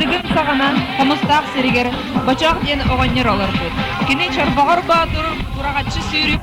Дыгын саҕанан Хомустаах сиригэр Бачаах диэн оҕонньор олорбут. Кини Чорбоҕор Боотур Кураҕаччы Сүүрүк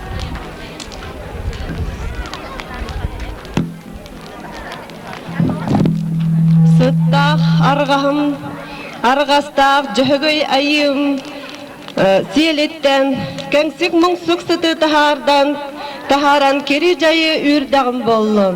Сыттаах арҕаһым, арҕастаах Дьөһөгөй айыым сиэлиттэн кэҥсик муҥсук сыты таһаардан таһааран кири дьайы үүрдэҕим боллун.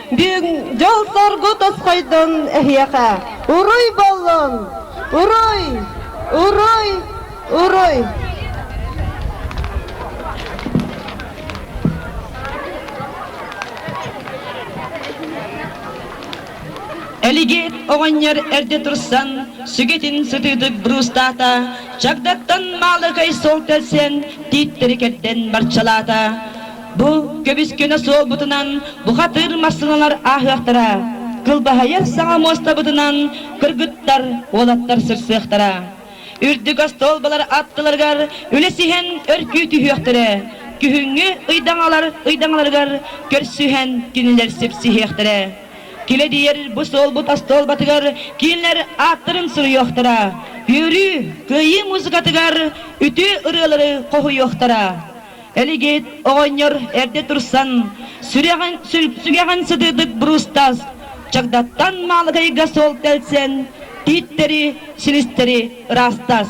Дьиҥ дьолторго тосхойдон эһиэхэ уруй боллун! Уруй! Уруй! Уруй! Элигиэт оҕонньор эрдэ турсан сүгэтин сытыытык бруустаата, чагдаттан маалыкай сол тэлсэн тииттэри кэрдэн барчалаата. Бу көбүскэнэ суох бутунан бухатыыр массыыналар ааһыахтара. Кылбаһыйар саҥа муостабытынан кыргыттар, уолаттар сырсыахтара. Үрдүк остуолбалар аттыларыгар үлэс иһэн өркүү түһүөхтэрэ. Күһүҥҥү ыйдаҥалар ыйдаҥаларыгар көрсүһэн кинилэр сипсиһиэхтэрэ. Килэ диэр бу суолбут остуолбатыгар кинилэр ааттарын суруйуохтара. Үөрүү, кыайыы музыкатыгар үтүө ырыалары хоһуйуохтара. Элигиит оҕонньор эрдэ турсан, сүгэҕин сытыытык Бруустас чагдаттан Маалыкайга суол тэлсэн, тииттэри, силистэри ыраастас.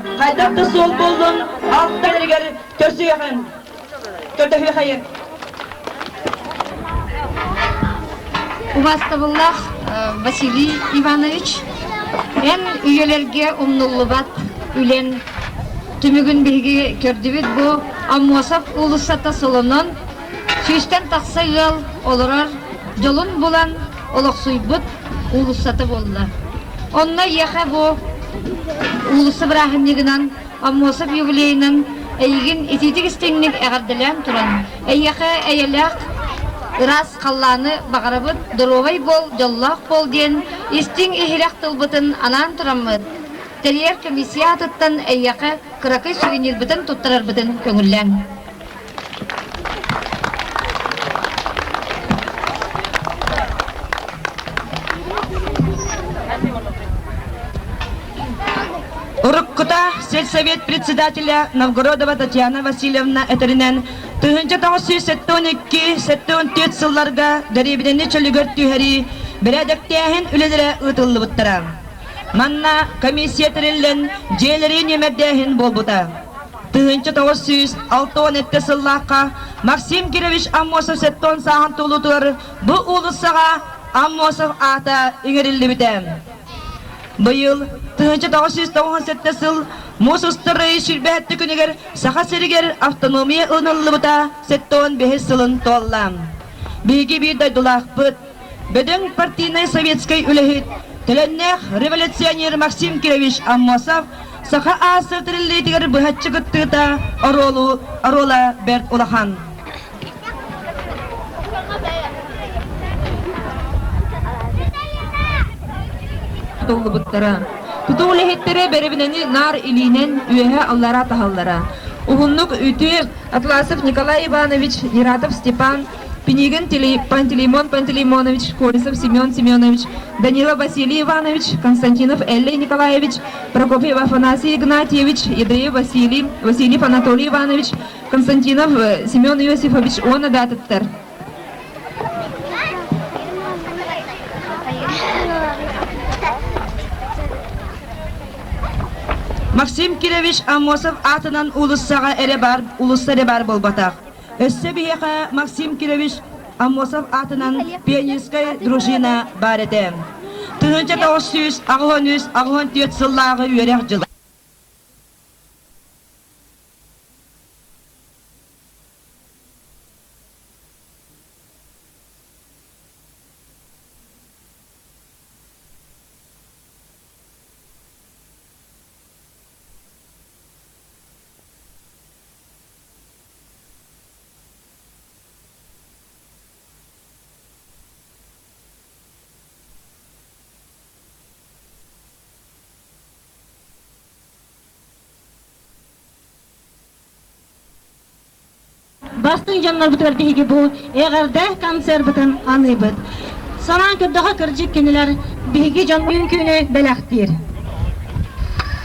хайдах да суол буоллун, алта эригэр көрсүһүөхүн. Көрдөһүөхэйин. Убастабыллах Василий Иванович, эн үйэлэрге умнуллубат үлэн түмүгүн биһиги көрдүбүт бу Аммосов уулуссата солонон Сүүстэн тахса ыал олорор дьолун булан олохсуйбут уулуссата буолла. Онно ийэхэ бу уулусса бырааһынньыгынан Аммосов юбилейынан эйигин итиитик истиҥник эҕэрдэлээн туран, эйиэхэ эйэлээх ыраас халлааны баҕарабыт, доруобай буол, дьоллоох буол диэн истиҥ-иһирэх тылбытын анаан тураммыт, тэрийэр комиссия аатыттан эйиэхэ кыракый сүрүнньүрбүтүн туттарарбытын көҥүллээҥ. Уруккута сельсовет председателя Новгородова Татьяна Васильевна этэринэн, тыһыынча тоҕус сүүс сэттэ он икки, сэттэ он түөрт сылларга дэриэбинэни чөлүгэр түһэрии бэрээдэктээһин үлэлэрэ ыытыллыбыттара. Манна комиссия тэриллэн, дьиэлэрин нүөмэрдээһин буолбута. тыһыынча тоҕус сүүс алта уон эттэ сыллаахха Максим Кирович Аммосов септон сааһын туолуутугар бу уулуссаҕа Аммосов аата иҥэриллибитэ. Быйыл тыһыынча тоҕус сүүс тоҕуһун сэттэ сыл муус устар ыйы сүүрбэһэттэ күнүгэр Саха сиригэр автономия ылыныллыбыта септон бэһис сылын туолла. Биһиги биир дойдулаахпыт Бөдөҥ партийнай советскай үлэһит, төлөннөөх революционер Максим Кирович Аммосов саха аас тэриллиитигэр быһаччы кыттыыта оруолу, оруола бэрт улахан. Тутуллубуттара. Тутуу үлэһиттэрэ бэрэбинэни наар илиинэн үөһэ аллара таһаллара. Уһуннук үтүө Атласов Николай Иванович, Нератов Степан Пинигин Пантелеймон Пантелеймонович, Колесов Семен Семенович, Данила Василий Иванович, Константинов Эллей Николаевич, Прокопьев Афанасий Игнатьевич, Едаев Василий, Васильев Анатолий Иванович, Константинов Семен Иосифович уонна даатыттар. Максим Кириллович Амосов аатынан улуссаҕа эрэ баар, улуста эрэ баар буолбатах. Өссө биһиэхэ Максим Кирович Амосов аатынан пианистскай дружина баар этэ. Тыһыынча тоҕус сүүс аҕыһын үс аҕыһын түөрт сыллааҕы үөрэх дьыла. Бастыҥ дьоннорбутугар биһиги бу эҕэрдэ концербытын аныыбыт. Санаан көрдөҕө кырдьык кинилэр биһиги дьон бүгүн күнү бэлэхтиир.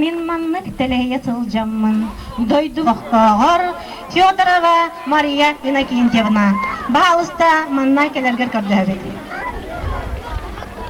Мин маннык тэлэйэ сылдьаммын дойду олохтооҕор Федорова Мария Иннокентьевна. Баһаалыста манна кэлэргэр көрдөһөбүт.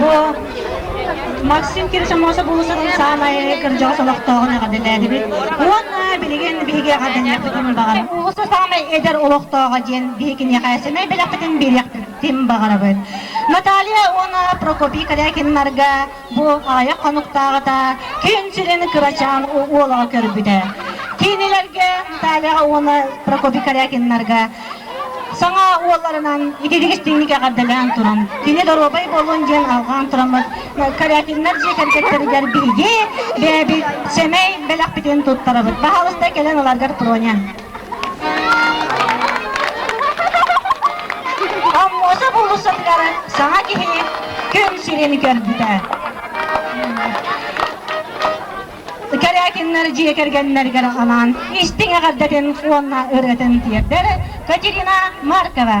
Бу Максим Кирсомосов улуустарын саамай кырдьаҕас олохтооҕун эҕэрдэлээтибит уонна билигин биһиги эҕэрдэлиэхпитин баҕарабыт. Улуустар саамай эдэр олохтооҕо диэн биһиги киниэхэ сэмэй бэлэхпитин биэриэхпитин баҕарабыт. Наталья уонна Прокопий Корякиннарга Бу аайа хонуктааҕыта күн сирин кырачаан уолаҕа көрбүтэ. Кинилэргэ Натальяҕа уонна Прокопий Корякиннарга саҥа уолларынан ититик истиҥник эҕэрдэлээн туран, кини доруобай буолуон диэн алҕаан тураммыт Корякиннар дьиэ кэргэттэригэр биһиги бэйэбит сэмэй бэлэхпитин туттарабыт. Баһаалыста кэлэн ыларгар Проня. Хоммуота булусалларын саҥа киһи күн сирин көрбүтэ. Корякиннар дьиэ кэргэннэригэр анаан истиҥ эҕэрдэтин уонна ырыатын тиэрдэр Катерина Маркова.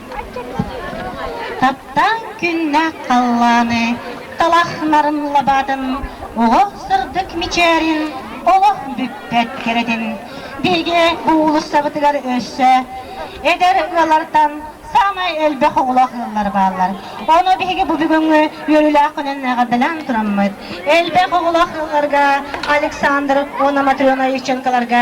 Таптаан күннээх халлааны талахнарын лабаатын олох сырдык мичээрин олох бүппэт кэрэтин биһиги уулуссабытыгар өссө эдэр ыалартан саамай элбэх оҕолоох ыаллар бааллар ону биһиги бу бүгүҥҥү үөрүүлээх күнүн эҕэрдэлээн тураммыт элбэх оҕолоох ыалларга Александр уонна Матрена Ивченколарга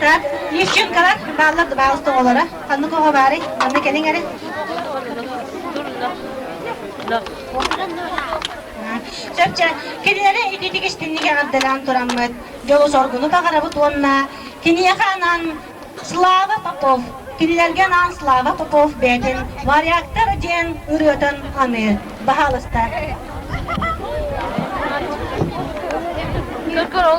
Трап, Лещенкалар, бааллар да баалыс тоҕолоро. Ханнык оҕо баарый? Манна кэлиҥ эрэ. Сөпчө, кинилэри ититик истинник эҕэрдэлээн тураммыт. Дьолу соргуну таҕарабыт уонна киниэхэ анаан Слава Попов кинилэргэ анаан Слава Попов бэйэтин Варягтар диэн ырыатын аны баһаалыста. Good girl,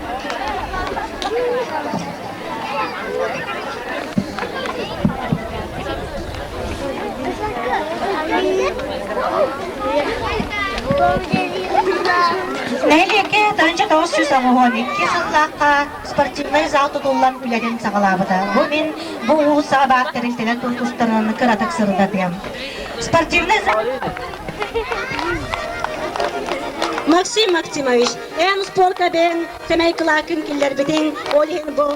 Нэһилиэккэ Таанча тоҕус сүүс оҕоһон икки сыллаахха спортивнай зал тутуллан үлэтин саҕалаабыта. Бу мин бу улуус саҕа баар тэрилтэлэр тустарынан кыратык сырытатыам. Спортивный зал Максим Максимович, Ээн успуоркабын сэмэй кылааккын киллэрбитиҥ ол иһин бу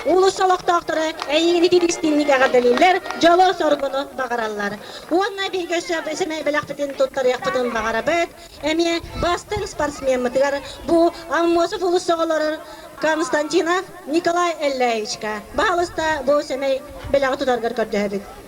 Улус олохтоохторо эйиигин ититистиинник эҕэрдэлииллэр, дьолу-соргуну баҕараллар. Уонна биһиги өссө сэмэй бэлэхпитин туттарыахпытын баҕарабыт. Эмиэ бастыҥ спортсмеммытыгар бу Аммосов Улус оҕолорор Константинов Николай Эллеевичка баҕалыста бу сэмэй бэлэҕи тутаргар көрдөһөбүт.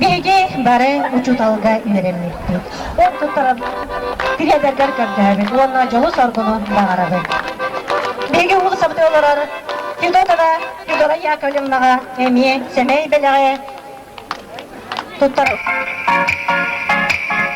Биһиги бары учууталга үөрэммиппит. Ол туттаран тириэрдэргэр көрдөөбүт уонна дьолус оргунун баҕарабыт. Биһиги уулуссабыт олорор Федотова Федора Яковлевнаҕа эмиэ сэмэй бэлэҕи туттар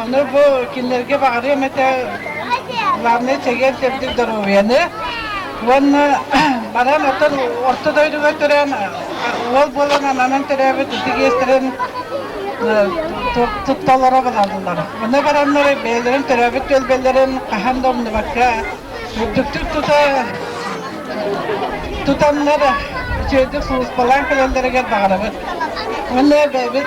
Ону бу кинилэргэ баҕарыам этэ главное чэгиэн төрдүк доруобуйаны уонна баран оттон орто дойдуга төрөөн уол буолан ананан төрөөбүт ити иэстэрин тутталара булаллар. Оны бараннар бэйэлэрин төрөөбүт төлбөлөрүн хаһан да умнубакка үрдүктүк тута тутаннар үчүгэйдик сулуспалаан кэлэллэригэр баҕарабыт. Уонна бэйэбит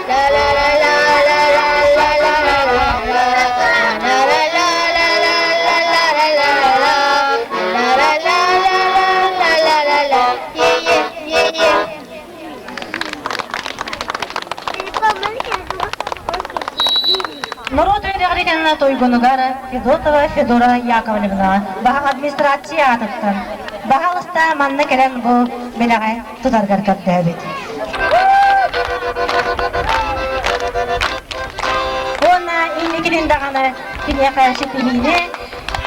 Норуот үөрэҕиригэнэ туйгунугар Федотова Федора Яковлевна баһаҥ администрация аатыттан баһаалыста манна кэлэн бу бэлэҕэ Тыгаргар кэптэһэбит. Уонна инникитин даҕаны киниэхэ ситиһиини,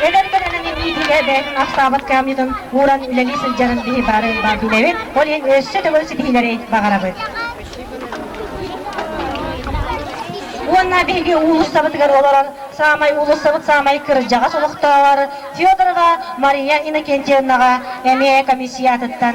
эдэр көлөнөҥүн иитиигэ бэйэтин ахсаабат кыамньытын ууран үлэлии сылдьарын киһи бары баар билэбит, ол иһин өссө төгүл ситиһиилэри баҕарабыт. Уонна биһиги уулуссабытыгар олорон саамай уулуссабыт саамай кырдьаҕас олохтооҕор Федорова Мария Иннокентьевнаҕа эмиэ комиссия атыттан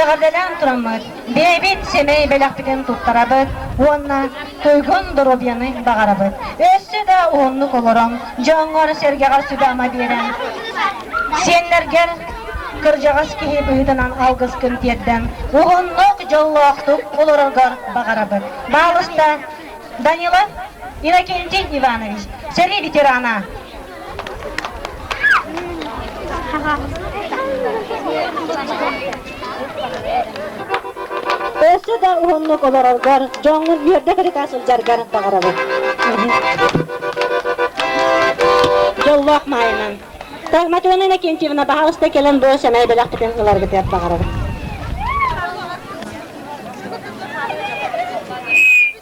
Эҕэрдэлээн тураммыт, бэйэбит сэмэй бэлэхпитин туттарабыт уонна туйгун доруобуйаны баҕарабыт. Өссө да уһуннук олорон, дьоҥҥор-сэргэҕэр сүбэ-ама биэрэн, сиэннэргэр кырдьаҕас киһи быһыытынан алгыскын тиэрдэн, уһуннук дьоллоохтук олороргор баҕарабыт. Баалыста Данилов Иннокентий Иванович, сэрии ветерана. Өссө да уһуннук олороргор, дьоҥҥун үөрдэ кырыта сылдьаргар баҕарабын. Дьоллоох маайынан. Тагматыана Иннокентьевна, баһаалыста кэлэн бу сэмэй бэлэхтэтин ыларгытыгар баҕарабын.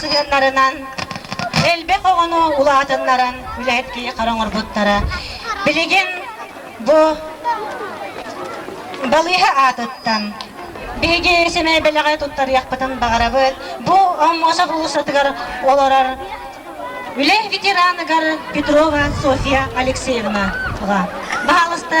сыһыаннарынан элбэх оҕону улаатыннаран үлэһит киһи хара оҥорбуттара билигин бу балыыһа аатыттан биһиги сэмэй бэлэҕи туттарыахпытын баҕарабыт бу омосов устатыгар олорор үлэ ветераныгар петрова софья алексеевна баҕаласта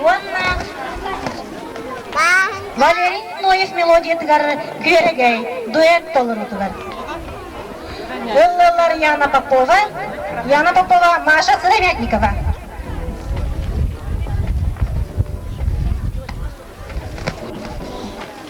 уонна балерин Лоев мелодиятыгар күөрэгэй дуэт толоруутугар. Ыллылар Яна Попова, Яна Попова, Маша Сыромятникова.